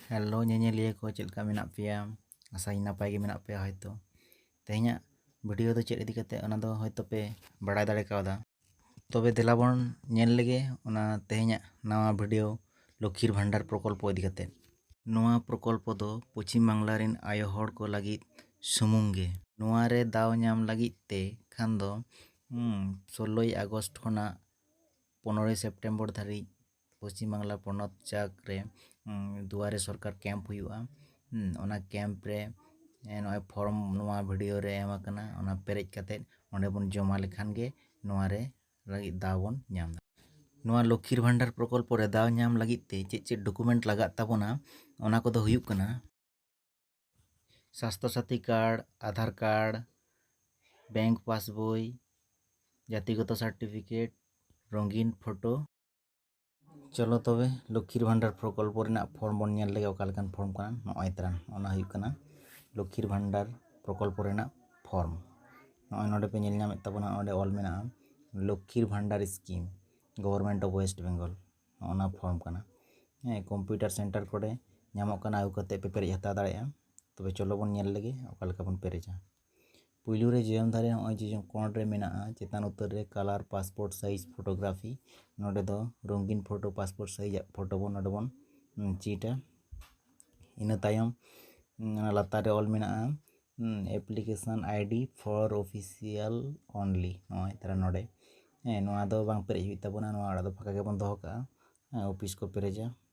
hello ᱧᱮᱧᱮᱞᱤᱭᱟᱹ ᱠᱚ ᱪᱮᱫ ᱞᱮᱠᱟ ᱢᱮᱱᱟᱜ ᱯᱮᱭᱟ ᱟᱥᱟᱭᱟᱹᱧ ᱱᱟᱯᱟᱭ ᱜᱮ ᱢᱮᱱᱟᱜ ᱯᱮᱭᱟ ᱦᱳᱭᱛᱳ ᱛᱮᱦᱮᱧᱟᱜ ᱵᱷᱤᱰᱤᱭᱳ ᱫᱚ ᱪᱮᱫ ᱤᱫᱤ ᱠᱟᱛᱮᱫ ᱚᱱᱟ ᱫᱚ ᱦᱳᱭᱛᱳ ᱯᱮ ᱵᱟᱲᱟᱭ ᱫᱟᱲᱮ ᱠᱟᱣᱫᱟ ᱛᱚᱵᱮ ᱫᱮᱞᱟ ᱵᱚᱱ ᱧᱮᱞ ᱞᱮᱜᱮ ᱚᱱᱟ ᱛᱮᱦᱮᱧᱟᱜ ᱱᱟᱣᱟ ᱵᱷᱤᱰᱤᱭᱳ ᱞᱚᱠᱠᱷᱤᱨ ᱵᱷᱟᱱᱰᱟᱨ ᱯᱨᱚᱠᱚᱞᱯᱚ ᱤᱫᱤ ᱠᱟᱛᱮᱫ ᱱᱚᱣᱟ ᱯᱨᱚᱠᱚᱞᱯᱚ ᱫᱚ ᱯᱚᱪᱷᱤᱢ ᱵᱟᱝᱞᱟ ᱨᱮᱱ ᱟᱭᱳ ᱦᱚᱲ ᱠᱚ ᱞᱟᱹᱜᱤᱫ ᱥᱩᱢᱩᱝ ᱜᱮ ᱱᱚᱣᱟ ᱨᱮ ᱫᱟᱣ ᱧᱟᱢ ᱞᱟᱹᱜᱤᱫ ᱛᱮ ᱠᱷᱟᱱ ᱫᱚ ᱥᱳᱞᱞᱳᱭ ᱟᱜᱚᱥᱴ ᱠᱷᱚᱱᱟᱜ ᱯᱚᱱᱮᱨᱳᱭ ᱥᱮᱯᱴᱮᱢᱵᱚᱨ ᱫᱷᱟᱹᱨᱤᱡ ᱯᱚᱪᱷᱤᱢ ᱵᱟᱝᱞᱟ ᱯᱚᱱᱚᱛ ᱡᱟᱠ ᱨᱮ ᱫᱩᱣᱟᱨᱮ ᱥᱚᱨᱠᱟᱨ ᱠᱮᱢᱯ ᱦᱩᱭᱩᱜᱼᱟ ᱚᱱᱟ ᱠᱮᱢᱯ ᱨᱮ ᱱᱚᱜᱼᱚᱭ ᱯᱷᱚᱨᱚᱢ ᱱᱚᱣᱟ ᱵᱷᱤᱰᱤᱭᱳ ᱨᱮ ᱮᱢ ᱟᱠᱟᱱᱟ ᱚᱱᱟ ᱯᱮᱨᱮᱡ ᱠᱟᱛᱮ ᱚᱸᱰᱮ ᱵᱚᱱ ᱡᱚᱢᱟ ᱞᱮᱠᱷᱟᱱ ᱜᱮ ᱱᱚᱣᱟ ᱨᱮ ᱞᱟᱹᱜᱤᱫ ᱫᱟᱣ ᱵᱚᱱ ᱧᱟᱢ ᱫᱟᱲᱮᱭᱟᱜᱼᱟ ᱱᱚᱣᱟ ᱞᱚᱠᱠᱷᱤᱨ ᱵᱷᱟᱱᱰᱟᱨ ᱯᱨᱚᱠᱚᱞᱯᱚ ᱨᱮ ᱫᱟᱣ ᱧᱟᱢ ᱞᱟᱹᱜᱤᱫ ᱛᱮ ᱪᱮᱫ ᱪᱮᱫ ᱰᱚᱠᱩᱢᱮᱱᱴ ᱞᱟᱜᱟᱜ ᱛᱟᱵᱚᱱᱟ ᱚᱱᱟ ᱠᱚᱫᱚ ᱦᱩᱭᱩᱜ ᱠᱟᱱᱟ Swasthya Sathi card Aadhaar card bank passbook ᱡᱟᱛᱤᱜᱚᱛᱚ ᱥᱟᱨᱴᱤᱯᱷᱤᱠᱮᱴ ᱨᱚᱝᱜᱤᱱ ᱯᱷᱳᱴᱳ ᱪᱚᱞᱚ ᱛᱚᱵᱮ ᱞᱚᱠᱠᱷᱤᱨ ᱵᱷᱟᱱᱰᱟᱨ ᱯᱨᱚᱠᱚᱞᱯᱚ ᱨᱮᱱᱟᱜ ᱯᱷᱚᱨᱢ ᱵᱚᱱ ᱧᱮᱞ ᱞᱮᱜᱮ ᱚᱠᱟ ᱞᱮᱠᱟᱱ ᱯᱷᱚᱨᱢ ᱠᱟᱱᱟ ᱱᱚᱜᱼᱚᱭ ᱛᱟᱨᱟ ᱚᱱᱟ ᱦᱩᱭᱩᱜ ᱠᱟᱱᱟ ᱞᱚᱠᱠᱷᱤᱨ ᱵᱷᱟᱱᱰᱟᱨ ᱯᱨᱚᱠᱚᱞᱯᱚ ᱨᱮᱱᱟᱜ ᱯᱷᱚᱨᱢ ᱱᱚᱜᱼᱚᱭ ᱱᱚᱰᱮ ᱯᱮ ᱧᱮᱞ ᱧᱟᱢᱮᱫ ᱛᱟᱵᱚᱱᱟ ᱚᱸᱰᱮ ᱚᱞ ᱢᱮᱱᱟᱜᱼᱟ Lakshmir Bhandar scheme government of West Bengal ᱚᱱᱟ ᱯᱷᱚᱨᱢ ᱠᱟᱱᱟ ᱦᱮᱸ ᱠᱚᱢᱯᱤᱭᱩᱴᱟᱨ ᱥᱮᱱᱴᱟᱨ ᱠᱚᱨᱮ ᱧᱟᱢᱚᱜ ᱠᱟᱱᱟ ᱟᱹᱜᱩ ᱠᱟᱛᱮᱫ ᱯᱮ ᱯᱮᱨᱮᱡ ᱦᱟᱛᱟᱣ ᱫᱟᱲᱮᱭᱟᱜᱼᱟ ᱛᱚᱵᱮ ᱪᱚᱞᱚ ᱵᱚᱱ ᱧᱮᱞ ᱞᱮᱜᱮ ᱚᱠᱟ ᱞᱮᱠᱟ ᱵᱚᱱ ᱯᱮᱨᱮᱡᱟ ᱯᱩᱭᱞᱩ ᱨᱮ ᱡᱤᱭᱚᱱ ᱫᱟᱲᱮ ᱱᱚᱜᱼᱚᱭ ᱡᱮ ᱠᱚᱬ ᱨᱮ ᱢᱮᱱᱟᱜᱼᱟ ᱪᱮᱛᱟᱱ ᱩᱛᱟᱹᱨ ᱨᱮ ᱠᱟᱞᱟᱨ ᱯᱟᱥᱯᱳᱨᱴ ᱥᱟᱭᱤᱡᱽ ᱯᱷᱳᱴᱳᱜᱨᱟᱯᱷᱤ ᱱᱚᱰᱮ ᱫᱚ ᱨᱚᱝᱜᱤᱱ ᱯᱷᱳᱴᱳ ᱯᱟᱥᱯᱳᱨᱴ ᱥᱟᱭᱤᱡᱽ ᱟᱜ ᱯᱷᱳᱴᱳ ᱵᱚᱱ ᱱᱚᱰᱮ ᱵᱚᱱ ᱪᱷᱤᱴᱟ ᱤᱱᱟᱹ ᱛᱟᱭᱚᱢ ᱚᱱᱟ ᱞᱟᱛᱟᱨ ᱨᱮ ᱚᱞ ᱢᱮᱱᱟᱜᱼᱟ application ID for official only ᱱᱚᱜᱼᱚᱭ ᱛᱟᱦᱚᱞᱮ ᱱᱚᱰᱮ ᱦᱮᱸ ᱱᱚᱣᱟ ᱫᱚ ᱵᱟᱝ ᱯᱮᱨᱮᱡ ᱦᱩᱭᱩᱜ ᱛᱟᱵᱚᱱᱟ ᱱᱚᱣᱟ ᱟᱲᱟ ᱫᱚ ᱯᱷᱟᱸᱠᱟ ᱜᱮᱵᱚᱱ ᱫᱚᱦᱚ ᱠᱟᱜᱼᱟ ᱚᱯᱷᱤᱥ ᱠᱚ ᱯᱮᱨᱮᱡᱟ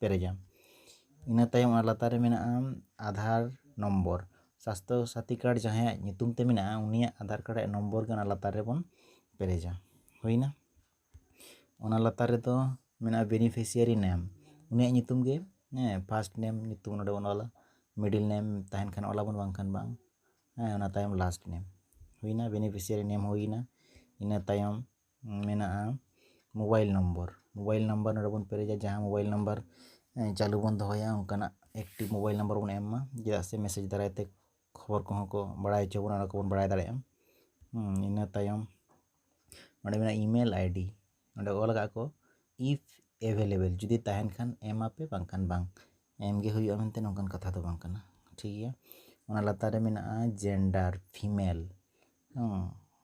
ᱯᱮᱨᱮᱡᱟ ᱤᱱᱟᱹ ᱛᱟᱭᱚᱢ ᱚᱱᱟ ᱞᱟᱛᱟᱨ ᱨᱮ ᱢᱮᱱᱟᱜᱼᱟ ᱟᱫᱷᱟᱨ ᱱᱚᱢᱵᱚᱨ ᱥᱟᱥᱛᱷᱚ ᱥᱟᱛᱷᱤ ᱠᱟᱨᱰ ᱡᱟᱦᱟᱸᱭᱟᱜ ᱧᱩᱛᱩᱢ ᱛᱮ ᱢᱮᱱᱟᱜᱼᱟ ᱩᱱᱤᱭᱟᱜ ᱟᱫᱷᱟᱨ ᱠᱟᱨᱰ ᱨᱮᱭᱟᱜ ᱱᱚᱢᱵᱚᱨ ᱜᱮ ᱚᱱᱟ ᱞᱟᱛᱟᱨ ᱨᱮᱵᱚᱱ ᱯᱮᱨᱮᱡᱟ ᱦᱩᱭᱱᱟ ᱚᱱᱟ ᱞᱟᱛᱟᱨ ᱨᱮᱫᱚ ᱢᱮᱱᱟᱜᱼᱟ ᱵᱮᱱᱤᱯᱷᱤᱥᱤᱭᱟᱨᱤ ᱱᱮᱢ ᱩᱱᱤᱭᱟᱜ ᱧᱩᱛᱩᱢ ᱜᱮ ᱦᱮᱸ ᱯᱷᱟᱥᱴ ᱱᱮᱢ ᱧᱩᱛᱩᱢ ᱱᱚᱸᱰᱮ ᱵᱚᱱ ᱚᱞᱟ ᱢᱤᱰᱤᱞ ᱱᱮᱢ ᱛᱟᱦᱮᱱ ᱠᱷᱟᱱ ᱚᱞ ᱟᱵᱚᱱ ᱵᱟᱝᱠᱷᱟᱱ ᱵᱟᱝ ᱦᱮᱸ ᱚᱱᱟ ᱛᱟᱭᱚᱢ ᱞᱟᱥᱴ ᱱᱮᱢ ᱦᱩᱭᱱᱟ ᱵᱮᱱᱤᱯᱷᱤᱥᱤᱭᱟᱨᱤ ᱱᱮᱢ ᱦᱩᱭᱱᱟ ᱤᱱᱟᱹ ᱛᱟᱭᱚᱢ ᱢᱮᱱᱟᱜᱼᱟ ᱢᱳᱵᱟᱭᱤᱞ ᱱᱚᱢᱵᱚᱨ ᱢᱳᱵᱟᱭᱤᱞ ᱱᱟᱢᱵᱟᱨ ᱱᱚᱸᱰᱮ ᱵᱚᱱ ᱯᱮᱨᱮᱡᱟ ᱡᱟᱦᱟᱸ ᱢᱳᱵᱟᱭᱤᱞ ᱱᱟᱢᱵᱟᱨ ᱪᱟᱹᱞᱩ ᱵᱚᱱ ᱫᱚᱦᱚᱭᱟ ᱚᱱᱠᱟᱱᱟᱜ ᱮᱠᱴᱤᱵᱽ ᱢᱳᱵᱟᱭᱤᱞ ᱱᱟᱢᱵᱟᱨ ᱵᱚᱱ ᱮᱢ ᱢᱟ ᱪᱮᱫᱟᱜ ᱥᱮ ᱢᱮᱥᱮᱡᱽ ᱫᱟᱨᱟᱭ ᱛᱮ ᱠᱷᱚᱵᱚᱨ ᱠᱚᱦᱚᱸ ᱠᱚ ᱵᱟᱲᱟᱭ ᱦᱚᱪᱚ ᱵᱚᱱᱟ ᱚᱱᱟ ᱠᱚᱵᱚᱱ ᱵᱟᱲᱟᱭ ᱫᱟᱲᱮᱭᱟᱜᱼᱟ ᱤᱱᱟᱹ ᱛᱟᱭᱚᱢ ᱱᱚᱸᱰᱮ ᱢᱮᱱᱟᱜᱼᱟ ᱤᱼᱢᱮᱞ ᱟᱭᱰᱤ ᱱᱚᱸᱰᱮ ᱚᱞ ᱠᱟᱜᱼᱟ ᱠᱚ ᱤᱯᱷ ᱮᱵᱷᱮᱞᱮᱵᱮᱞ ᱡᱩᱫᱤ ᱛᱟᱦᱮᱱ ᱠᱷᱟᱱ ᱮᱢ ᱟᱯᱮ ᱵᱟᱝᱠᱷᱟᱱ ᱵᱟᱝ ᱮᱢ ᱜᱮ ᱦᱩᱭᱩᱜᱼᱟ ᱢᱮᱱᱛᱮ ᱱᱚᱝᱠᱟᱱ ᱠᱟᱛᱷᱟ ᱫᱚ ᱵᱟᱝ ᱠᱟᱱᱟ ᱴᱷᱤᱠ ᱜᱮᱭᱟ ᱚᱱᱟ ᱞᱟᱛᱟᱨ ᱨᱮ ᱢᱮᱱᱟᱜᱼᱟ ᱡᱮᱱᱰᱟᱨ ᱯᱷᱤᱢᱮᱞ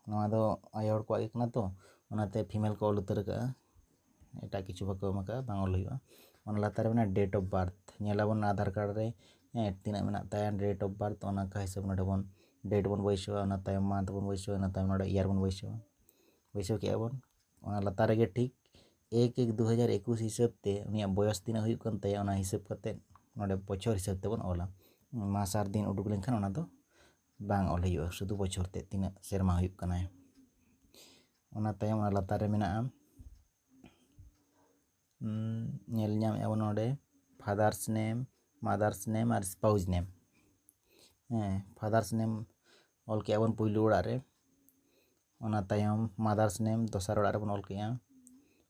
ᱱᱚᱣᱟ ᱫᱚ ᱟᱭᱳ ᱦᱚᱲ ᱠᱚᱣᱟᱜ ᱜᱮ ᱠᱟᱱᱟ ᱛᱚ ᱚᱱᱟᱛᱮ ᱯᱷᱤᱢᱮᱞ ᱠᱚ ᱚᱞ ᱩᱛᱟᱹᱨ ᱠᱟᱜᱼᱟ ᱮᱴᱟᱜ ᱠᱤᱪᱷᱩ ᱵᱟᱠᱚ ᱮᱢ ᱠᱟᱜᱼᱟ ᱵᱟᱝ ᱚᱞ ᱦᱩᱭᱩᱜᱼᱟ ᱚᱱᱟ ᱞᱟᱛᱟᱨ ᱨᱮ ᱢᱮᱱᱟᱜᱼᱟ ᱰᱮᱴ ᱚᱯᱷ ᱵᱟᱨᱛᱷ ᱧᱮᱞ ᱟᱵᱚᱱ ᱟᱫᱷᱟᱨ ᱠᱟᱨᱰ ᱨᱮ ᱦᱮᱸ ᱛᱤᱱᱟᱹᱜ ᱢᱮᱱᱟᱜ ᱛᱟᱭᱟ ᱰᱮᱴ ᱚᱯᱷ ᱵᱟᱨᱛᱷ ᱚᱱᱟ ᱠᱚ ᱦᱤᱥᱟᱹᱵ ᱱᱚᱰᱮ ᱵᱚᱱ ᱰᱮᱴ ᱵᱚᱱ ᱵᱟᱹᱭᱥᱟᱹᱣᱟ ᱚᱱᱟ ᱛᱟᱭᱚᱢ ᱢᱟᱱᱛᱷ ᱵᱚᱱ ᱵᱟᱹᱭᱥᱟᱹᱣᱟ ᱚᱱᱟ ᱛᱟᱭᱚᱢ ᱱᱚᱰᱮ ᱤᱭᱟᱨ ᱵᱚᱱ ᱵᱟᱹᱭᱥᱟᱹᱣᱟ ᱵᱟᱹᱭᱥᱟᱹᱣ ᱠᱮᱜᱼᱟ ᱵᱚᱱ ᱚᱱᱟ ᱞᱟᱛᱟᱨ ᱨᱮᱜᱮ ᱴᱷᱤᱠ ᱮᱠ ᱮᱠ ᱫᱩ ᱦᱟᱡᱟᱨ ᱮᱠᱩᱥ ᱦᱤᱥᱟᱹᱵ ᱛᱮ ᱩᱱᱤᱭᱟᱜ ᱵᱚᱭᱚᱥ ᱛᱤᱱᱟᱹᱜ ᱦᱩᱭᱩᱜ ᱠᱟᱱ ᱛᱟᱭᱟ ᱚᱱᱟ ᱦᱤᱥᱟᱹᱵ ᱠᱟᱛᱮ ᱱᱚᱰᱮ ᱵᱚᱪᱷᱚᱨ ᱦᱤᱥᱟᱹᱵ ᱛᱮᱵᱚᱱ ᱚᱞᱟ ᱢᱟᱥ ᱟᱨ ᱫᱤᱱ ᱩᱰᱩᱠ ᱞᱮᱱᱠᱷᱟᱱ ᱚᱱᱟ ᱫᱚ ᱵᱟᱝ ᱚᱞ ᱦᱩᱭᱩᱜᱼᱟ ᱥᱩᱫᱷᱩ ᱵᱚᱪᱷᱚᱨ ᱛᱮᱫ ᱛᱤᱱᱟᱹᱜ ᱥᱮᱨᱢᱟ ᱦᱩᱭᱩᱜ ᱠᱟᱱᱟᱭ ᱚᱱᱟ ᱛᱟᱭᱚᱢ ᱚᱱᱟ ᱞᱟᱛᱟᱨ ᱨᱮ ᱢᱮᱱᱟᱜᱼᱟ ᱧᱮᱞ ᱧᱟᱢᱮᱫᱼᱟ ᱵᱚᱱ ᱱᱚᱰᱮ ᱯᱷᱟᱫᱟᱨᱥ ᱱᱮᱢ ᱢᱟᱫᱟᱨᱥ ᱱᱮᱢ ᱟᱨ ᱥᱯᱟᱣᱩᱡᱽ ᱱᱮᱢ ᱦᱮᱸ ᱯᱷᱟᱫᱟᱨᱥ ᱱᱮᱢ ᱚᱞ ᱠᱮᱫᱼᱟ ᱵᱚᱱ ᱯᱳᱭᱞᱳ ᱚᱲᱟᱜ ᱨᱮ ᱚᱱᱟ ᱛᱟᱭᱚᱢ ᱢᱟᱫᱟᱨᱥ ᱱᱮᱢ ᱫᱚᱥᱟᱨ ᱚᱲᱟᱜ ᱨᱮᱵᱚᱱ ᱚᱞ ᱠᱮᱫᱼᱟ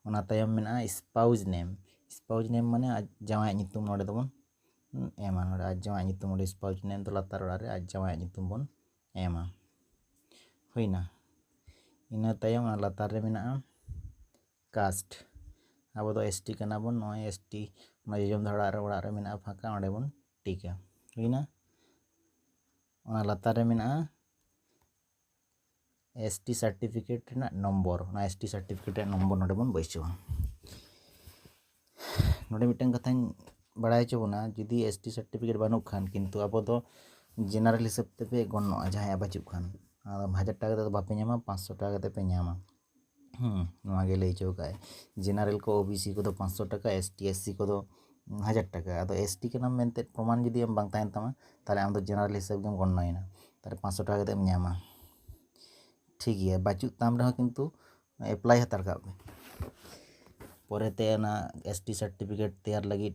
ᱚᱱᱟ ᱛᱟᱭᱚᱢ ᱢᱮᱱᱟᱜᱼᱟ ᱥᱯᱟᱣᱩᱡᱽ ᱱᱮᱢ ᱥᱯᱟᱣᱩᱡᱽ ᱱᱮᱢ ᱢᱟᱱᱮ ᱟᱡ ᱡᱟᱶᱟᱭᱟᱜ ᱧᱩᱛᱩᱢ ᱱᱚᱰᱮ ᱫᱚᱵᱚᱱ ᱮᱢᱟ ᱱᱚᱰᱮ ᱟᱡ ᱡᱟᱶᱟᱭᱟᱜ ᱧᱩᱛᱩᱢ ᱚᱸᱰᱮ ᱥᱯᱟᱣᱩᱥ ᱱᱮᱢ ᱫᱚ ᱞᱟᱛᱟᱨ ᱚᱲᱟᱜ ᱨᱮ ᱟᱡ ᱡᱟᱶᱟᱭᱟᱜ ᱧᱩᱛᱩᱢ ᱵᱚᱱ ᱮᱢᱟ ᱦᱩᱭᱱᱟ ᱤᱱᱟᱹ ᱛᱟᱭᱚᱢ ᱚᱱᱟ ᱞᱟᱛᱟᱨ ᱨᱮ ᱢᱮᱱᱟᱜᱼᱟ ᱠᱟᱥᱴ ᱟᱵᱚ ᱫᱚ ᱮᱥ ᱴᱤ ᱠᱟᱱᱟ ᱵᱚᱱ ᱱᱚᱜᱼᱚᱭ ᱮᱥ ᱴᱤ ᱚᱱᱟ ᱡᱚᱡᱚᱢ ᱫᱷᱟᱨᱮ ᱚᱲᱟᱜ ᱨᱮ ᱚᱲᱟᱜ ᱨᱮ ᱢᱮᱱᱟᱜᱼᱟ ᱯᱷᱟᱸᱠᱟ ᱚᱸᱰᱮ ᱵᱚᱱ ᱴᱤᱠᱟ ᱦᱩᱭᱱᱟ ᱚᱱᱟ ᱞᱟᱛᱟᱨ ᱨᱮ ᱢᱮᱱᱟᱜᱼᱟ ᱮᱥ ᱴᱤ ᱥᱟᱨᱴᱤᱯᱷᱤᱠᱮᱴ ᱨᱮᱱᱟᱜ ᱱᱚᱢᱵᱚᱨ ᱚᱱᱟ ᱮᱥ ᱴᱤ ᱥᱟᱨᱴᱤᱯᱷᱤᱠᱮᱴ ᱨᱮᱱᱟᱜ ᱱᱚᱢᱵᱚᱨ ᱱᱚᱸᱰᱮ ᱵᱚᱱ ᱵᱟᱹᱭᱥᱟᱹᱣᱟ ᱱᱚᱸᱰᱮ ᱢᱤᱫᱴᱟᱝ ᱠᱟᱛᱷᱟᱧ ᱵᱟᱲᱟᱭ ᱦᱚᱪᱚ ᱵᱚᱱᱟ ᱡᱩᱫᱤ ᱮᱥ ᱴᱤ ᱥᱟᱨᱴᱤᱯᱷᱤᱠᱮᱴ ᱵᱟᱹᱱᱩᱜ ᱠᱷᱟᱱ ᱠᱤᱱᱛᱩ ᱟᱵᱚ ᱫᱚ ᱡᱮᱱᱟᱨᱮᱞ ᱦᱤᱥᱟᱹᱵ ᱛᱮᱯᱮ ᱜᱚᱱᱱᱚᱜᱼᱟ ᱡᱟᱦᱟᱸᱭᱟᱜ ᱵᱟᱹᱪᱩᱜ ᱠᱷᱟᱱ ᱟᱫᱚ ᱦᱟᱡᱟᱨ ᱴᱟᱠᱟ ᱠᱟᱛᱮᱫ ᱫᱚ ᱵᱟᱯᱮ ᱧᱟᱢᱟ ᱯᱟᱸᱥᱥᱳ ᱴᱟᱠᱟ ᱠᱟᱛᱮᱫ ᱯᱮ ᱧᱟᱢᱟ ᱱᱚᱣᱟ ᱜᱮ ᱞᱟᱹᱭ ᱦᱚᱪᱚ ᱠᱟᱜᱼᱟᱭ ᱡᱮᱱᱟᱨᱮᱞ ᱠᱚ ᱳᱵᱤᱥᱤ ᱠᱚᱫᱚ ᱯᱟᱸᱥᱥᱳ ᱴᱟᱠᱟ ᱮᱥ ᱴᱤ ᱮᱥ ᱥᱤ ᱠᱚᱫᱚ ᱦᱟᱡᱟᱨ ᱴᱟᱠᱟ ᱟᱫᱚ ᱮᱥ ᱴᱤ ᱠᱟᱱᱟᱢ ᱢᱮᱱᱛᱮ ᱯᱨᱚᱢᱟᱱ ᱡᱩᱫᱤ ᱟᱢ ᱵᱟᱝ ᱛᱟᱦᱮᱱ ᱛᱟᱢᱟ ᱛᱟᱦᱚᱞᱮ ᱟᱢ ᱫᱚ ᱡᱮᱱᱟᱨᱮᱞ ᱦᱤᱥᱟᱹᱵ ᱜᱮᱢ ᱜᱚᱱᱱᱚᱭᱮᱱᱟ ᱛᱟᱦᱚᱞᱮ ᱯᱟᱸᱥᱥᱳ ᱴᱟᱠᱟ ᱠᱟᱛᱮᱢ ᱧᱟᱢᱟ ᱴᱷᱤᱠ ᱜᱮᱭᱟ ᱵᱟᱹᱪᱩᱜ ᱛᱟᱢ ᱨᱮᱦᱚᱸ ᱠᱤᱱᱛᱩ ᱮᱯᱞᱟᱭ ᱦᱟᱛᱟᱲ ᱠᱟᱜ ᱢᱮ ᱯᱚᱨᱮᱛᱮ ᱚᱱᱟ ᱮᱥ ᱴᱤ ᱥᱟᱨᱴᱤᱯᱷᱤᱠᱮᱴ ᱛᱮᱭᱟᱨ ᱞᱟᱹᱜᱤᱫ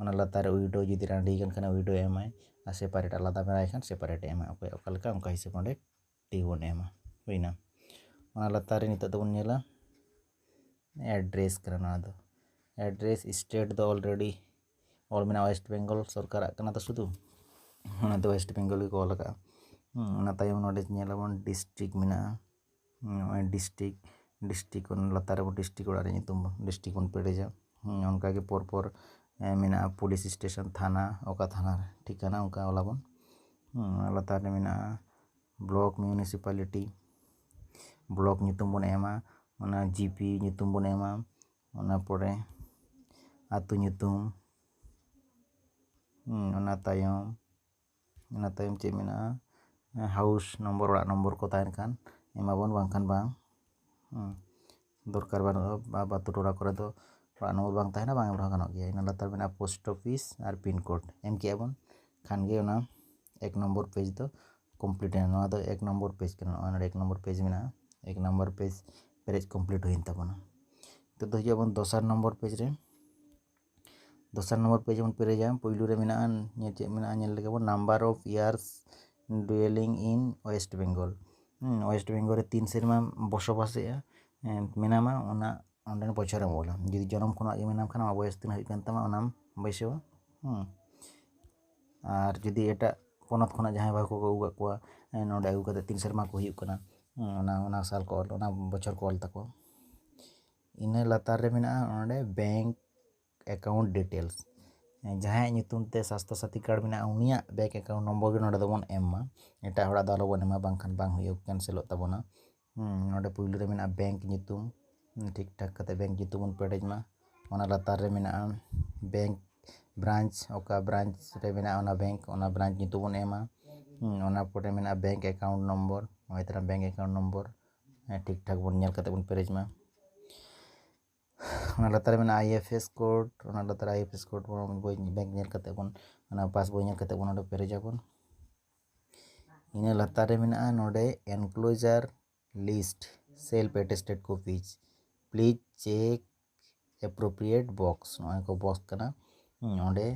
ᱚᱱᱟ ᱞᱟᱛᱟᱨ ᱨᱮ ᱩᱭᱰᱳ ᱡᱩᱫᱤ ᱨᱟᱺᱰᱤ ᱟᱠᱟᱱ ᱠᱷᱟᱱ ᱩᱭᱰᱳᱭ ᱮᱢᱟᱭ ᱟᱨ ᱥᱮᱯᱟᱨᱮᱴ ᱟᱞᱟᱫᱟ ᱢᱮᱱᱟᱭ ᱠᱷᱟᱱ ᱥᱮᱯᱟᱨᱮᱴᱮ ᱮᱢᱟ ᱚᱠᱚᱭᱟᱜ ᱚᱠᱟ ᱞᱮᱠᱟ ᱚᱱᱠᱟ ᱦᱤᱥᱟᱹᱵ ᱚᱸᱰᱮ ᱴᱤ ᱵᱚᱱ ᱮᱢᱟ ᱦᱩᱭᱱᱟ ᱚᱱᱟ ᱞᱟᱛᱟᱨ ᱨᱮ ᱱᱤᱛᱚᱜ ᱫᱚᱵᱚᱱ ᱧᱮᱞᱟ ᱮᱰᱨᱮᱥ ᱠᱟᱱᱟ ᱱᱚᱣᱟ ᱫᱚ ᱮᱰᱨᱮᱥ ᱥᱴᱮᱴ ᱫᱚ ᱚᱞᱨᱮᱰᱤ ᱚᱞ ᱢᱮᱱᱟᱜᱼᱟ ᱳᱭᱮᱥᱴ ᱵᱮᱝᱜᱚᱞ ᱥᱚᱨᱠᱟᱨᱟᱜ ᱠᱟᱱᱟ ᱛᱚ ᱥᱩᱫᱷᱩ ᱚᱱᱟᱛᱮ ᱳᱭᱮᱥᱴ ᱵᱮᱝᱜᱚᱞ ᱜᱮᱠᱚ ᱚᱞ ᱟᱠᱟᱫᱼᱟ ᱚᱱᱟ ᱛᱟᱭᱚᱢ ᱱᱚᱰᱮ ᱧᱮᱞ ᱟᱵᱚᱱ ᱰᱤᱥᱴᱤᱠ ᱢᱮᱱᱟᱜᱼᱟ ᱱᱚᱜᱼᱚᱭ ᱰᱤᱥᱴᱤᱠ ᱰᱤᱥᱴᱤᱠ ᱠᱷᱚᱱ ᱞᱟᱛᱟᱨ ᱨᱮ ᱰᱤᱥᱴᱤᱠ ᱚᱲᱟᱜ ᱨᱮᱭᱟᱜ ᱧᱩᱛᱩᱢ ᱰᱤᱥᱴᱤᱠ ᱵᱚᱱ ᱯᱮᱨᱮᱡᱟ ᱚᱱᱠᱟᱜᱮ ᱯᱚᱨ ᱯᱚᱨ ᱢᱮᱱᱟᱜᱼᱟ ᱯᱩᱞᱤᱥ ᱥᱴᱮᱥᱚᱱ ᱛᱷᱟᱱᱟ ᱚᱠᱟ ᱛᱷᱟᱱᱟ ᱨᱮ ᱴᱷᱤᱠᱟᱱᱟ ᱚᱱᱠᱟ ᱚᱞ ᱟᱵᱚᱱ ᱞᱟᱛᱟᱨ ᱨᱮ ᱢᱮᱱᱟᱜᱼᱟ ᱵᱞᱚᱠ ᱢᱤᱭᱩᱱᱤᱥᱤᱯᱟᱞᱤᱴᱤ ᱵᱞᱚᱠ ᱧᱩᱛᱩᱢ ᱵᱚᱱ ᱮᱢᱟ ᱚᱱᱟ ᱡᱤᱯᱤ ᱧᱩᱛᱩᱢ ᱵᱚᱱ ᱮᱢᱟ ᱚᱱᱟ ᱯᱚᱨᱮ ᱟᱹᱛᱩ ᱧᱩᱛᱩᱢ ᱚᱱᱟ ᱛᱟᱭᱚᱢ ᱚᱱᱟ ᱛᱟᱭᱚᱢ ᱪᱮᱫ ᱢᱮᱱᱟᱜᱼᱟ ᱦᱟᱣᱩᱥ ᱱᱚᱢᱵᱚᱨ ᱚᱲᱟᱜ ᱱᱚᱢᱵᱚᱨ ᱠᱚ ᱛᱟᱦᱮᱱ ᱠᱷᱟᱱ ᱮᱢᱟᱵᱚᱱ ᱵᱟᱝᱠᱷᱟᱱ ᱵᱟᱝ ᱫᱚᱨᱠᱟᱨ ᱵᱟᱹᱱᱩᱜᱼᱟ ᱟᱵᱚ ᱟᱹᱛᱩ ᱴᱚᱞᱟ ᱠᱚᱨᱮ ᱫᱚ ᱚᱲᱟᱜ ᱱᱚᱢᱵᱚᱨ ᱵᱟᱝ ᱛᱟᱦᱮᱱᱟ ᱵᱟᱝ ᱮᱢ ᱨᱮᱦᱚᱸ ᱜᱟᱱᱚᱜ ᱜᱮᱭᱟ ᱤᱱᱟᱹ ᱞᱟᱛᱟᱨ ᱢᱮᱱᱟᱜᱼᱟ ᱯᱳᱥᱴ ᱚᱯᱷᱤᱥ ᱟᱨ ᱯᱤᱱ ᱠᱳᱰ ᱮᱢ ᱠᱮᱜᱼᱟ ᱵᱚᱱ ᱠᱷᱟᱱ ᱜᱮ ᱚᱱᱟ ᱮᱠ ᱱᱚᱢᱵᱚᱨ ᱯᱮᱡᱽ ᱫᱚ ᱠᱚᱢᱯᱞᱤᱴ ᱮᱱᱟ ᱱᱚᱣᱟ ᱫᱚ ᱮᱠ ᱱᱚᱢᱵᱚᱨ ᱯᱮᱡᱽ ᱠᱟᱱᱟ ᱱᱚᱜᱼᱚᱭ ᱱᱚᱰᱮ ᱮᱠ ᱱᱚᱢᱵᱚᱨ ᱯᱮᱡᱽ ᱢᱮᱱᱟᱜᱼᱟ ᱮᱠ ᱱᱚᱢᱵᱚᱨ ᱯᱮᱡᱽ ᱯᱮᱨᱮᱡ ᱠᱚᱢᱯᱞᱤᱴ ᱦᱩᱭᱮᱱ ᱛᱟᱵᱚᱱᱟ ᱱᱤᱛᱚᱜ ᱫᱚ ᱦᱤᱡᱩᱜ ᱟᱵᱚᱱ ᱫᱚᱥᱟᱨ ᱱᱚᱢᱵᱚᱨ ᱯᱮᱡᱽ ᱨᱮ ᱫᱚᱥᱟᱨ ᱱᱚᱢᱵᱚᱨ ᱯᱮᱡᱽ ᱵᱚᱱ ᱯᱮᱨᱮᱡᱟ ᱯᱳᱭᱞᱳ ᱨᱮ ᱢᱮᱱᱟᱜᱼᱟ ᱧᱮᱞ ᱪᱮᱫ ᱢᱮᱱᱟᱜᱼᱟ ᱧᱮᱞ ᱞᱮᱜᱮ ᱵᱚᱱ number of years dwelling in West Bengal West Bengal ᱨᱮ ᱛᱤᱱ ᱥᱮᱨᱢᱟᱢ ᱵᱚᱥᱚᱵᱟᱥᱮᱜᱼᱟ ᱢᱮᱱᱟᱢᱟ ᱚᱱᱟ ᱚᱸᱰᱮᱱᱟᱜ ᱵᱚᱪᱷᱚᱨᱮᱢ ᱚᱞᱟ ᱡᱩᱫᱤ ᱡᱚᱱᱚᱢ ᱠᱷᱚᱱᱟᱜ ᱜᱮ ᱢᱮᱱᱟᱢ ᱠᱷᱟᱱ ᱟᱢᱟᱜ ᱵᱚᱭᱮᱥ ᱛᱤᱱᱟᱹᱜ ᱦᱩᱭᱩᱜ ᱠᱟᱱ ᱛᱟᱢᱟ ᱚᱱᱟᱢ ᱵᱟᱹᱭᱥᱟᱹᱣᱟ ᱟᱨ ᱡᱩᱫᱤ ᱮᱴᱟᱜ ᱯᱚᱱᱚᱛ ᱠᱷᱚᱱᱟᱜ ᱡᱟᱦᱟᱸᱭ ᱵᱟᱹᱦᱩ ᱠᱚᱠᱚ ᱟᱹᱜᱩ ᱠᱟᱜ ᱠᱚᱣᱟ ᱱᱚᱸᱰᱮ ᱟᱹᱜᱩ ᱠᱟᱛᱮ ᱛᱤᱱ ᱥᱮᱨᱢᱟ ᱠᱚ ᱦᱩᱭᱩᱜ ᱠᱟᱱᱟ ᱚᱱᱟ ᱚᱱᱟ ᱥᱟᱞ ᱠᱚ ᱚᱞ ᱚᱱᱟ ᱵᱚᱪᱷᱚᱨ ᱠᱚ ᱚᱞ ᱛᱟᱠᱚᱣᱟ ᱤᱱᱟᱹ ᱞᱟᱛᱟᱨ ᱨᱮ ᱢᱮᱱᱟᱜᱼᱟ ᱚᱸᱰᱮ ᱵᱮᱝᱠ ᱮᱠᱟᱣᱩᱱᱴ ᱰᱤᱴᱮᱞᱥ ᱡᱟᱦᱟᱸᱭᱟᱜ ᱧᱩᱛᱩᱢ ᱛᱮ ᱥᱟᱥᱛᱷᱚ ᱥᱟᱛᱷᱤ ᱠᱟᱨᱰ ᱢᱮᱱᱟᱜᱼᱟ ᱩᱱᱤᱭᱟᱜ ᱵᱮᱝᱠ ᱮᱠᱟᱣᱩᱱᱴ ᱱᱚᱢᱵᱚᱨ ᱜᱮ ᱱᱚᱸᱰᱮ ᱫᱚᱵᱚᱱ ᱮᱢ ᱢᱟ ᱮᱴᱟᱜ ᱦᱚᱲᱟᱜ ᱫᱚ ᱟᱞᱚᱵᱚᱱ ᱮᱢᱟ ᱵᱟᱝᱠᱷᱟᱱ ᱵᱟᱝ ᱦᱩᱭᱩᱜ ᱠᱮᱱᱥᱮᱞᱚᱜ ᱛᱟᱵᱚᱱᱟ ᱱᱚᱸᱰᱮ ᱯᱳᱭᱞᱳ ᱨᱮ ᱢᱮᱱᱟᱜᱼᱟ ᱵᱮᱝᱠ ᱧᱩᱛᱩᱢ ᱴᱷᱤᱠ ᱴᱷᱟᱠ ᱠᱟᱛᱮᱫ ᱵᱮᱝᱠ ᱧᱩᱛᱩᱢ ᱵᱚᱱ ᱯᱮᱨᱮᱡᱽ ᱢᱟ ᱚᱱᱟ ᱞᱟᱛᱟᱨ ᱨᱮ ᱢᱮᱱᱟᱜᱼᱟ ᱵᱮᱝᱠ ᱵᱨᱟᱱᱪ ᱚᱠᱟ ᱵᱨᱟᱱᱪ ᱨᱮ ᱢᱮᱱᱟᱜᱼᱟ ᱚᱱᱟ ᱵᱮᱝᱠ ᱚᱱᱟ ᱵᱨᱟᱱᱪ ᱧᱩᱛᱩᱢ ᱵᱚᱱ ᱮᱢᱟ ᱚᱱᱟ ᱯᱚᱨᱮ ᱢᱮᱱᱟᱜᱼᱟ ᱵᱮᱝᱠ ᱮᱠᱟᱣᱩᱱᱴ ᱱᱚᱢᱵᱚᱨ ᱱᱚᱜᱼᱚᱭ ᱛᱚᱨᱟ ᱵᱮᱝᱠ ᱮᱠᱟᱣᱩᱱᱴ ᱱᱚᱢᱵᱚᱨ ᱴᱷᱤᱠ ᱴᱷᱟᱠ ᱵᱚᱱ ᱧᱮᱞ ᱠᱟᱛᱮ ᱵᱚᱱ ᱯᱮᱨᱮᱡᱽ ᱢᱟ ᱚᱱᱟ ᱞᱟᱛᱟᱨ ᱨᱮ ᱢᱮᱱᱟᱜᱼᱟ ᱟᱭ ᱮᱯᱷ ᱮᱥ ᱠᱳᱰ ᱚᱱᱟ ᱞᱟᱛᱟᱨ ᱨᱮ ᱟᱭ ᱮᱯᱷ ᱮᱥ ᱠᱳᱰ ᱵᱚᱱ ᱵᱳᱭ ᱵᱮᱝᱠ ᱧᱮᱞ ᱠᱟᱛᱮ ᱵᱚᱱ ᱚᱱᱟ ᱯᱟᱥ ᱵᱳᱭ ᱧᱮᱞ ᱠᱟᱛᱮ ᱵᱚᱱ ᱚᱸᱰᱮ ᱯᱮᱨᱮᱡᱽ ᱟᱵᱚᱱ ᱤᱱᱟᱹ ᱞᱟᱛᱟᱨ ᱨᱮ ᱢᱮᱱᱟᱜᱼᱟ ᱱᱚᱰᱮ enclosure list self attested copies please check appropriate box ᱱᱚᱜᱼᱚᱭ ᱠᱚ ᱵᱚᱠᱥ ᱠᱟᱱᱟ ᱚᱸᱰᱮ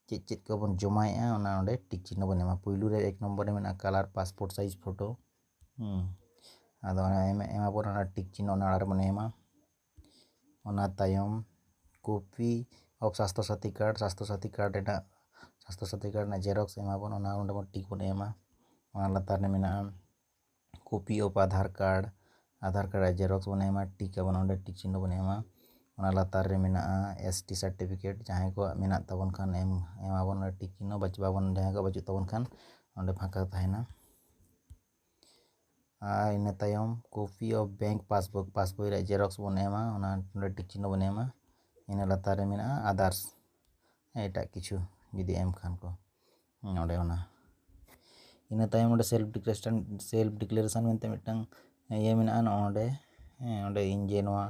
ᱪᱮᱫ ᱪᱮᱫ ᱠᱚᱵᱚᱱ ᱡᱚᱢᱟᱭᱮᱜᱼᱟ ᱚᱱᱟ ᱚᱸᱰᱮ ᱴᱤᱠ ᱪᱤᱱᱦᱟᱹ ᱵᱚᱱ ᱮᱢᱟ ᱯᱳᱭᱞᱳ ᱨᱮ ᱮᱠ ᱱᱚᱢᱵᱚᱨ ᱨᱮ ᱢᱮᱱᱟᱜᱼᱟ ᱠᱟᱞᱟᱨ ᱯᱟᱥᱯᱳᱨᱴ ᱥᱟᱭᱤᱡᱽ ᱯᱷᱳᱴᱳ ᱟᱫᱚ ᱚᱱᱟ ᱮᱢᱟ ᱵᱚᱱ ᱚᱱᱟ ᱴᱤᱠ ᱪᱤᱱᱦᱟᱹ ᱚᱱᱟ ᱚᱲᱟᱜ ᱨᱮᱵᱚᱱ ᱮᱢᱟ ᱚᱱᱟ ᱛᱟᱭᱚᱢ ᱠᱚᱯᱤ ᱚᱯᱷ ᱥᱟᱥᱛᱷᱚ ᱥᱟᱛᱷᱤ ᱠᱟᱨᱰ ᱥᱟᱥᱛᱷᱚ ᱥᱟᱛᱷᱤ ᱠᱟᱨᱰ ᱨᱮᱱᱟᱜ ᱥᱟᱥᱛᱷᱚ ᱥᱟᱛᱷᱤ ᱠᱟᱨᱰ ᱨᱮᱱᱟᱜ ᱡᱮᱨᱚᱠᱥ ᱮᱢᱟ ᱵᱚᱱ ᱚᱱᱟ ᱚᱸᱰᱮ ᱵᱚᱱ ᱴᱤᱠ ᱵᱚᱱ ᱮᱢᱟ ᱚᱱᱟ ᱞᱟᱛᱟᱨ ᱨᱮ ᱢᱮᱱᱟᱜᱼᱟ copy of Aadhaar card Aadhaar card ᱨᱮᱭᱟᱜ ᱡᱮᱨᱚᱠᱥ ᱵᱚᱱ ᱮᱢᱟ ᱴᱤᱠ ᱟᱵᱚᱱ ᱚᱸᱰᱮ ᱴᱤᱠ ᱪᱤᱱᱦᱟᱹ ᱵᱚᱱ ᱮᱢᱟ ᱚᱱᱟ ᱞᱟᱛᱟᱨ ᱨᱮ ᱢᱮᱱᱟᱜᱼᱟ ᱮᱥ ᱴᱤ ᱥᱟᱨᱴᱤᱯᱷᱤᱠᱮᱴ ᱡᱟᱦᱟᱸᱭ ᱠᱚᱣᱟᱜ ᱢᱮᱱᱟᱜ ᱛᱟᱵᱚᱱ ᱠᱷᱟᱱ ᱮᱢ ᱮᱢᱟ ᱵᱚᱱ ᱚᱸᱰᱮ ᱴᱤᱠ ᱪᱤᱱᱦᱟᱹ ᱵᱟᱵᱚᱱ ᱡᱟᱦᱟᱸᱭ ᱠᱚᱣᱟᱜ ᱵᱟᱹᱪᱩᱜ ᱛᱟᱵᱚᱱ ᱠᱷᱟᱱ ᱚᱸᱰᱮ ᱯᱷᱟᱸᱠᱟ ᱛᱟᱦᱮᱱᱟ ᱟᱨ ᱤᱱᱟᱹ ᱛᱟᱭᱚᱢ copy of bank passbook passbook ᱨᱮᱭᱟᱜ ᱡᱮᱨᱚᱠᱥ ᱵᱚᱱ ᱮᱢᱟ ᱚᱱᱟ ᱚᱸᱰᱮ ᱴᱤᱠ ᱪᱤᱱᱦᱟᱹ ᱵᱚᱱ ᱮᱢᱟ ᱤᱱᱟᱹ ᱞᱟᱛᱟᱨ ᱨᱮ ᱢᱮᱱᱟᱜᱼᱟ ᱟᱫᱟᱨᱥ ᱮᱴᱟᱜ ᱠᱤᱪᱷᱩ ᱡᱩᱫᱤ ᱮᱢ ᱠᱷᱟᱱ ᱠᱚ ᱚᱸᱰᱮ ᱚᱱᱟ ᱤᱱᱟᱹ ᱛᱟᱭᱚᱢ ᱚᱸᱰᱮ ᱥᱮᱞᱯᱷ ᱰᱤᱠᱞᱟᱨᱮᱥᱚᱱ ᱥᱮᱞᱯᱷ ᱰᱤᱠᱞᱟᱨᱮᱥᱚᱱ ᱢᱮᱱᱛᱮ ᱢᱤᱫᱴᱟᱝ ᱤᱭᱟᱹ ᱢᱮᱱᱟᱜᱼᱟ ᱱᱚᱸᱰᱮ ᱚᱸᱰᱮ ᱤᱧ ᱡᱮ ᱱᱚᱣᱟ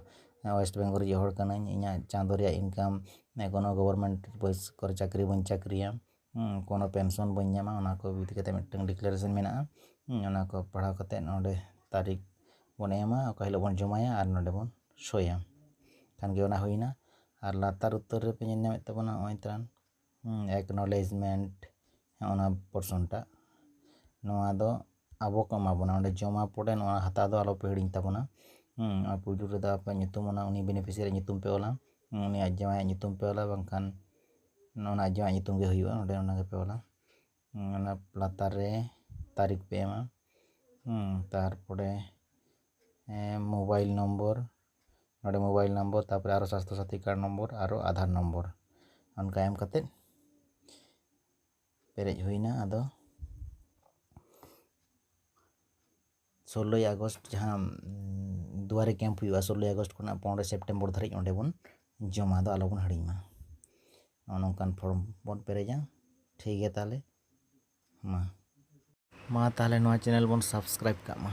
ᱳᱭᱮᱥᱴ ᱵᱮᱝᱜᱚᱞ ᱨᱮᱱᱤᱡ ᱦᱚᱲ ᱠᱟᱹᱱᱟᱹᱧ ᱤᱧᱟᱹᱜ ᱪᱟᱸᱫᱚ ᱨᱮᱭᱟᱜ ᱤᱱᱠᱟᱢ ᱠᱳᱱᱳ ᱜᱚᱵᱷᱚᱨᱱᱢᱮᱱᱴ ᱠᱚᱨᱮ ᱪᱟᱹᱠᱨᱤ ᱵᱟᱹᱧ ᱪᱟᱹᱠᱨᱤᱭᱟ ᱠᱳᱱᱳ ᱯᱮᱱᱥᱚᱱ ᱵᱟᱹᱧ ᱧᱟᱢᱟ ᱚᱱᱟ ᱠᱚ ᱤᱫᱤ ᱠᱟᱛᱮᱫ ᱢᱤᱫᱴᱟᱝ ᱰᱤᱠᱞᱟᱨᱮᱥᱚᱱ ᱢᱮᱱᱟᱜᱼᱟ ᱚᱱᱟ ᱠᱚ ᱯᱟᱲᱦᱟᱣ ᱠᱟᱛᱮᱫ ᱚᱸᱰᱮ ᱛᱟᱹᱨᱤᱠᱷ ᱵᱚᱱ ᱮᱢᱟ ᱚᱠᱟ ᱦᱤᱞᱳᱜ ᱵᱚᱱ ᱡᱚᱢᱟᱭᱟ ᱟᱨ ᱱᱚᱸᱰᱮ ᱵᱚᱱ ᱥᱳᱭᱟ ᱠᱷᱟᱱᱜᱮ ᱚᱱᱟ ᱦᱩᱭᱱᱟ ᱟᱨ ᱞᱟᱛᱟᱨ ᱩᱛᱟᱹᱨ ᱨᱮᱯᱮ ᱧᱮᱞ ᱧᱟᱢᱮᱫ ᱛᱟᱵᱚᱱᱟ ᱱᱚᱜᱼᱚᱭ ᱛᱚᱨᱟᱝ ᱮᱠᱱᱚᱞᱮᱡᱽᱢᱮᱱᱴ ᱚᱱᱟ ᱯᱚᱨᱥᱚᱱ ᱴᱟᱜ ᱱᱚᱣᱟ ᱫᱚ ᱟᱵᱚ ᱠᱚ ᱮᱢᱟ ᱵᱚᱱᱟ ᱚᱸᱰᱮ ᱡᱚᱢᱟ ᱯᱚᱨᱮ ᱱᱚᱣᱟ ᱦᱟᱛᱟᱣ ᱫᱚ ᱟᱞᱚᱯᱮ ᱦᱤᱲᱤᱧ ᱛᱟᱵᱚᱱᱟ ᱟᱨ ᱯᱳᱭᱞᱳ ᱨᱮᱫᱚ ᱟᱯᱮ ᱧᱩᱛᱩᱢ ᱚᱱᱟ ᱩᱱᱤ ᱵᱮᱱᱤᱯᱷᱤᱥᱤᱭᱟᱨᱤ ᱧᱩᱛᱩᱢ ᱯᱮ ᱚᱞᱟ ᱩᱱᱤ ᱟᱡ ᱡᱟᱶᱟᱭᱟᱜ ᱧᱩᱛᱩᱢ ᱯᱮ ᱚᱞᱟ ᱵᱟᱝᱠᱷᱟᱱ ᱚᱱᱟ ᱟᱡ ᱡᱟᱶᱟᱭᱟᱜ ᱧᱩᱛᱩᱢ ᱜᱮ ᱦᱩᱭᱩᱜᱼᱟ ᱚᱸᱰᱮ ᱚᱱᱟ ᱜᱮᱯᱮ ᱚᱞᱟ ᱚᱱᱟ ᱞᱟᱛᱟᱨ ᱨᱮ ᱛᱟᱹᱨᱤᱠᱷ ᱯᱮ ᱮᱢᱟ ᱛᱟᱨᱯᱚᱨᱮ ᱢᱳᱵᱟᱭᱤᱞ ᱱᱚᱢᱵᱚᱨ ᱱᱚᱰᱮ ᱢᱳᱵᱟᱭᱤᱞ ᱱᱚᱢᱵᱚᱨ ᱛᱟᱨᱯᱚᱨᱮ ᱟᱨᱚ ᱥᱟᱥᱛᱷᱚ ᱥᱟᱛᱷᱤ ᱠᱟᱨᱰ ᱱᱚᱢᱵᱚᱨ ᱟᱨᱚ ᱟᱫᱷᱟᱨ ᱱᱚᱢᱵᱚᱨ ᱚᱱᱠᱟ ᱮᱢ ᱠᱟᱛᱮ ᱯᱮᱨᱮᱡ ᱦᱩᱭᱱᱟ ᱟᱫᱚ ᱥᱳᱞᱞᱳᱭ ᱟᱜᱚᱥᱴ ᱡᱟᱦᱟᱸ ᱫᱩᱣᱟᱨᱮ ᱠᱮᱢᱯ ᱦᱩᱭᱩᱜᱼᱟ ᱥᱳᱞᱞᱳᱭ ᱟᱜᱚᱥᱴ ᱠᱷᱚᱱᱟᱜ ᱯᱚᱱᱨᱚᱭ ᱥᱮᱯᱴᱮᱢᱵᱚᱨ ᱫᱷᱟᱹᱨᱤᱡ ᱚᱸᱰᱮ ᱵᱚᱱ ᱡᱚᱢᱟ ᱫᱚ ᱟᱞᱚ ᱵᱚᱱ ᱦᱤᱲᱤᱧ ᱢᱟ ᱱᱚᱜᱼᱚ ᱱᱚᱝᱠᱟᱱ ᱯᱷᱨᱚᱢ ᱵᱚᱱ ᱯᱮᱨᱮᱡᱟ ᱴᱷᱤᱠ ᱜᱮᱭᱟ ᱛᱟᱦᱚᱞᱮ ᱢᱟ ᱢᱟ ᱛᱟᱦᱚᱞᱮ ᱱᱚᱣᱟ ᱪᱮᱱᱮᱞ ᱵᱚᱱ ᱥᱟᱵᱥᱠᱨᱟᱭᱤᱵᱽ ᱠᱟᱜ ᱢᱟ